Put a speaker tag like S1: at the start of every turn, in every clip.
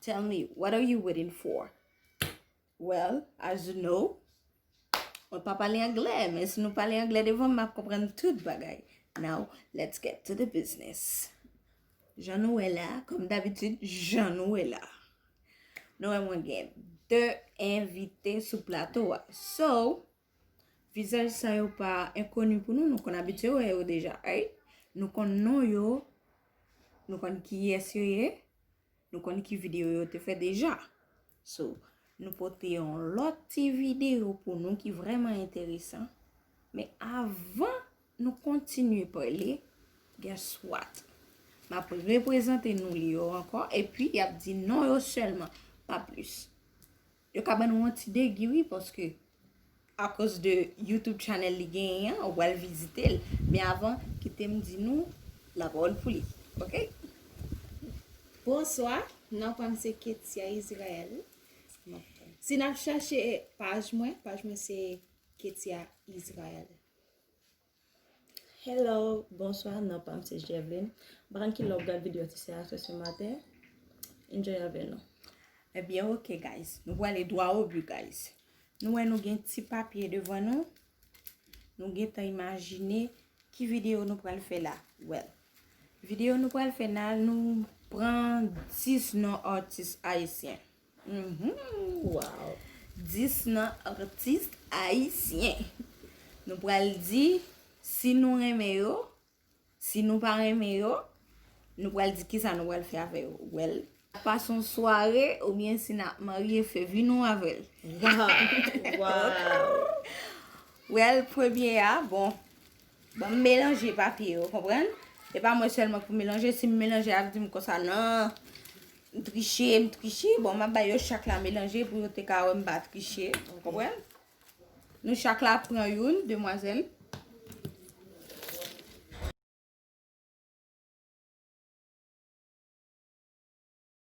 S1: Tell me, what are you waiting for? Well, as you know, mwen pa pale anglè, men si nou pale anglè devan m ap konprann tout bagay. Now, let's get to the business. Jan nou wè la, kom dabitid, jan nou wè la. Nou wè mwen gen 2 envite sou plato a. So. Vizaj sa yo pa enkoni pou nou, nou konn abitye wè yo deja, ayy. Nou konn non yo, nou konn kiyès yo ye, nou konn ki videyo yo te fè deja. So, nou pote yon lòt ti videyo pou nou ki vrèman enteresan. Men avan nou kontinye pale, guess what? M ap reprezante nou li yo ankò, epi y ap di non yo sèlman, pa plis. Yo ka ban nou yon ti degi wi paske akoz de youtube channel li genyen an ou pral vizite l men avan kite m di nou lapawòl pou li ok. Bonswa
S2: nan pam se ketia Israel si nap chache paj mwen paj mwen se ketia Israel.
S3: Hello bonswa non pam se jèvlin mpa konn ki lè wap gad video ti sè a se se maten enjoy avè nou. Ebyen ok
S1: guys nou pwale dwa o but guys nou wè nou gen ti papye devan nou nou gentan imajine ki video nou pwale fè la well video nou pwale fè la nou pran 10 non artis ayisyen. Humm
S3: waww
S1: 10 nan artiste ayisyen nou pral di si nou renmen yo si nou pa renmen yo nou pral di kisa nou pral fè avè yo wèl pas on sware oubyen si nap marye fè vi nou avèl waww
S3: waww
S1: wèl premye a bon. Banm melanje papye yo konprann e pa mwen selman pou melanje sim melanje yap dim konsa nan m triche m triche bon map bay yo chak la melanje pou yo te ka wèm pa triche ou konprann nou chak la pran youn demwazèl.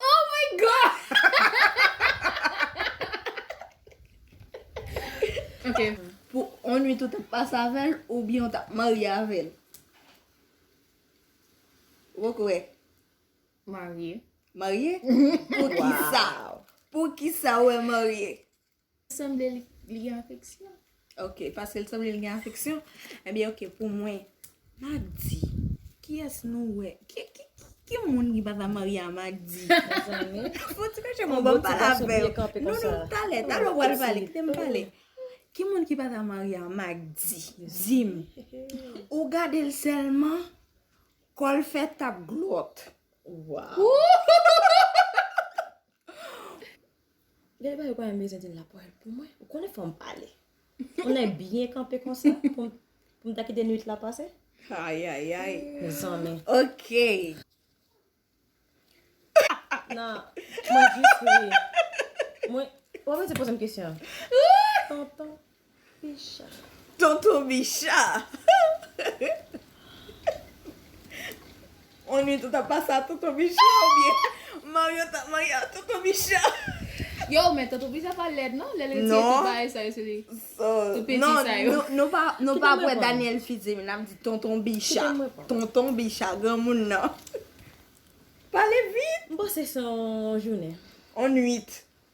S1: Oh my
S2: God Ok Pou on nwit
S1: ou tap pase avèl oubyen ou tap marye avèl? Ou poko wè?
S2: Marye Marye?
S1: Poukisa? Poukisa ou wè marye? Sanble
S2: li gen afeksyon. Ok, paske
S1: l sanble li gen afeksyon. Ebyen ok pou mwen. Magdi, kiyès nou wè? Ki moun ki pa ta marye a Magdi? Fon ti kache mwen banm pale avè yo. Non, non, talè, talè ou pral pale, kite m pale. Ki moun ki pa ta marye a Magdi? Di m. Ou gade l sèlman, kò l fè tap glòt.
S3: Waww. Gade bagay ou pa menm bezwen di la pou pou mwen. Ou konnen fòm pale. Ou nèg byen kanpe konsa pou m ta kite nwit la pase. Ayayay.
S1: Mezanmi.
S3: Ok. Nan, mwen jis ri. Mwen, ou pa bezwen poze m kesyon. Tonton. Tonton
S1: Bicha! On nwit ou t ap pase a Tonton Bicha oubyen Maryo t ap marye a Tonton Bicha? Yow men
S2: tonton bicha pa lèd non lèl retire tout bagay sa yo sou
S1: li
S2: tout penti sa yo. Non nou pa ap
S1: wè Daniel Fils Emile nap di tonton bicha tonton bicha granmoun nan pale vit. M panse se yon
S3: jounen. On nwit.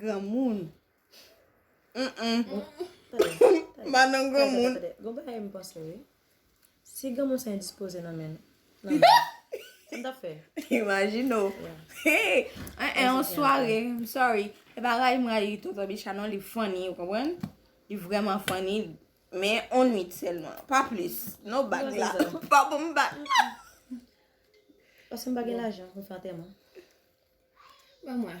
S1: Granmoun.
S3: Madan granmoun. Gon bagay
S1: m panse
S3: wi. Si granmoun sa endispoze nan men. Sa m tap fè. Imajine w.
S1: Yon sware. M sorry. E pa rayi m rayi tonton Bicha non. Li funny ou konprann. Li vreman funny. Men yon nwit selman. Pa plis. Non bag la. Pa pou m bag la.
S3: Pase m pa gen lajan pou m fè antèman.
S2: Ban mwen.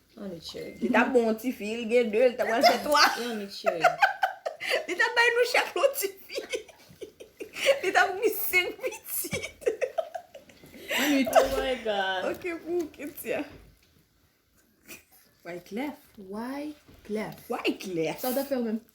S3: Li tap bon yon ti fi, li
S1: gen 2, li ta pral fè 3.
S3: Li tap
S1: bay nou chak yon ti fi. Li tap gen 5 pitit.
S2: Oh my God. Ok
S3: pou ou Kettia.
S1: Wyclef. Wyclef.
S2: Wyclef. Sa ou tap
S1: fè ou menm?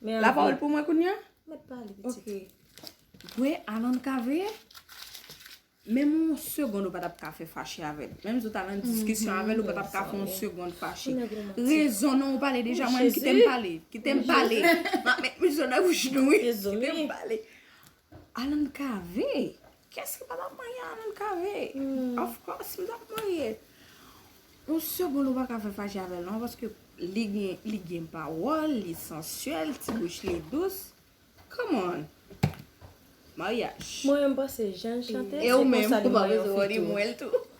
S3: Men La anvi. pawòl pou mwen kounye a?
S1: Mèt pale pitit. Ok.
S3: Gwe
S1: Alan ka veye? Menm yon segond ou pa tap ka fè fache avè l. Menm si ou t al an diskisyon avè l ou pa tap ka fè yon segond fache. Ou nèg romantik. Rezon non ou pale deja mwen menm kite m pale. Kite m pale. M ap met mizo nan bouch nou wi. Kite m pale. Alan cave? Kiyès ki pa tap marye Alan cave? Of course m tap marye. Yon segond ou paka fè fache avèl non paske li gen pawòl, li sensuel, ti bouch li dous. Come on! Maryaj. Mwen menm m panse
S3: jan l chante
S1: se konsa li marye yon fi tou.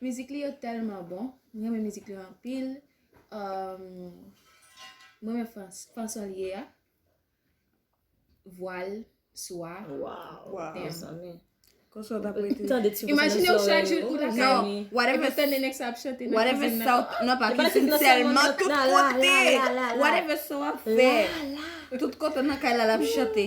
S2: Mizik li yo tèlman bon, m renmen mizik li yo anpil. M renmen fanson li ye a. Vwa l, so a. Waw,
S1: mezanmi. Imajine ou chak
S2: jou ou lakay. Non, whatever sa w fè nan
S1: kay lala.
S3: Tout
S1: kote, whatever
S3: sa w ap
S1: fè. Tout kote nan kay lala ap chante.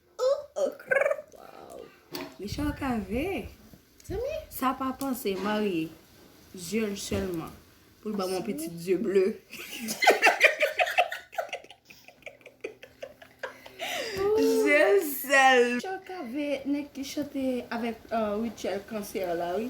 S1: Michel Cavé Sa pa panse marye Yeux l selman Pou l banm yon pitit yeux bleu Yeux l sèl Michel Cavé nèg ki chante avèk Rutshelle Cancer la wi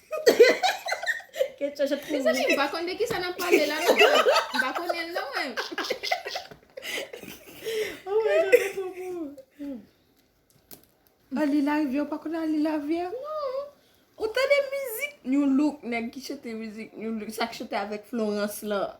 S3: Ketchòp ap kouri. Mezanmi m pa konn de kisa
S2: nap pale la non. M pa konnen l non mwen. Oh my God mwen twò
S3: pou ou.
S1: Anlin larivyè ou pa konn anlin larivyè? Non. Ou tande mizik Nu Look nèg ki chante mizik Nu Look sa k chante avèk Florence lan?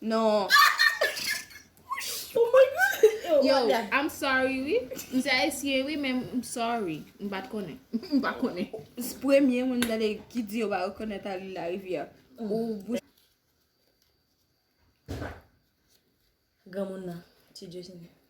S2: Non.
S3: Pou mwen nan. Yo, I'm
S2: sorry wi. M se ayisyen wi men m sorry. M pat konnen. M pa konnen. Se premye moun
S1: m tande ki di yo pa rekonèt Arly Lariviere. Ou bouch.
S3: Granmoun nan. Ti Dieusne.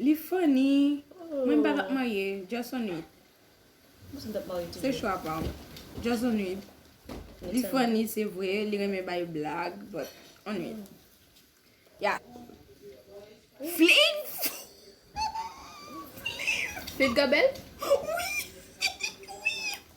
S3: Li funny
S1: Mwen m pa tap marye Just on it
S3: Se chwa pa w
S1: Just on it Li funny se vre Li renmen bay blag But on it Ya Flit Flit
S2: Flit Gabel Wi Wi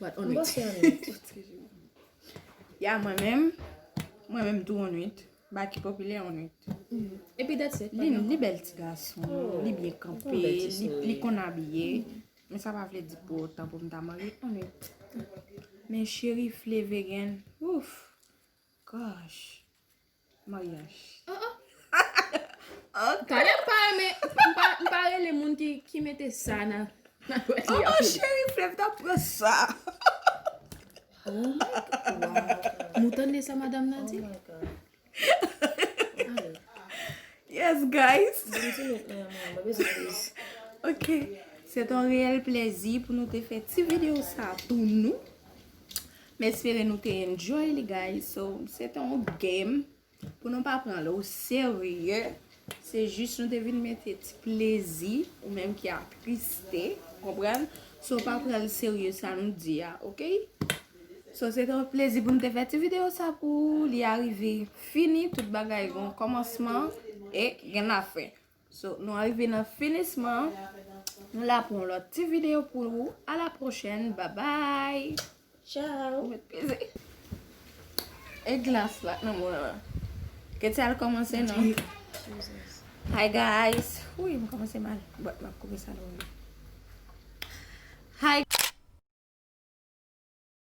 S2: But on it.
S1: Ya mwen menm, mwen menm tou on it. Baky popilè on it. Epi that's
S2: it. Li bèl ti gason,
S1: li byen kanpe, li konn
S3: abiye.
S1: Men sa pa vle di pou otan pou m ta marye on it. Men cheri flevegen, ouff, gosh. Maryaj.
S2: Talè m pa renmen, m pa rele moun ki mete sa nan dwèt li a. Cheri
S1: flev ta
S2: pran
S1: sa.
S2: Mwen tande sa madam nan di.
S1: Yes guys.
S3: Ok.
S1: Se ton reyèl plezi pou nou te fè ti video sa pou nou. M espere nou te enjoy li guys So se te yon game Pou nou pa pran l o serye Se jis nou te vin mete ti plezi Ou menm ki ap triste Konprann So pa pran l serye sa nou di a ok So se te yon plezi pou nou te fè ti video sa pou ou Li arive fini Tout bagay gen yon komansman E gen la fen So nou arive nan finisman. Nou la pou yon lòt ti video pou ou. A la pwochèn. Babay. Tchao. Ou
S3: met peze.
S1: E glas la. Nan mwen la. Keti al komanse nan. Hi guys. Ou yon komanse mal. Bòt map koupe sa lò. Hi.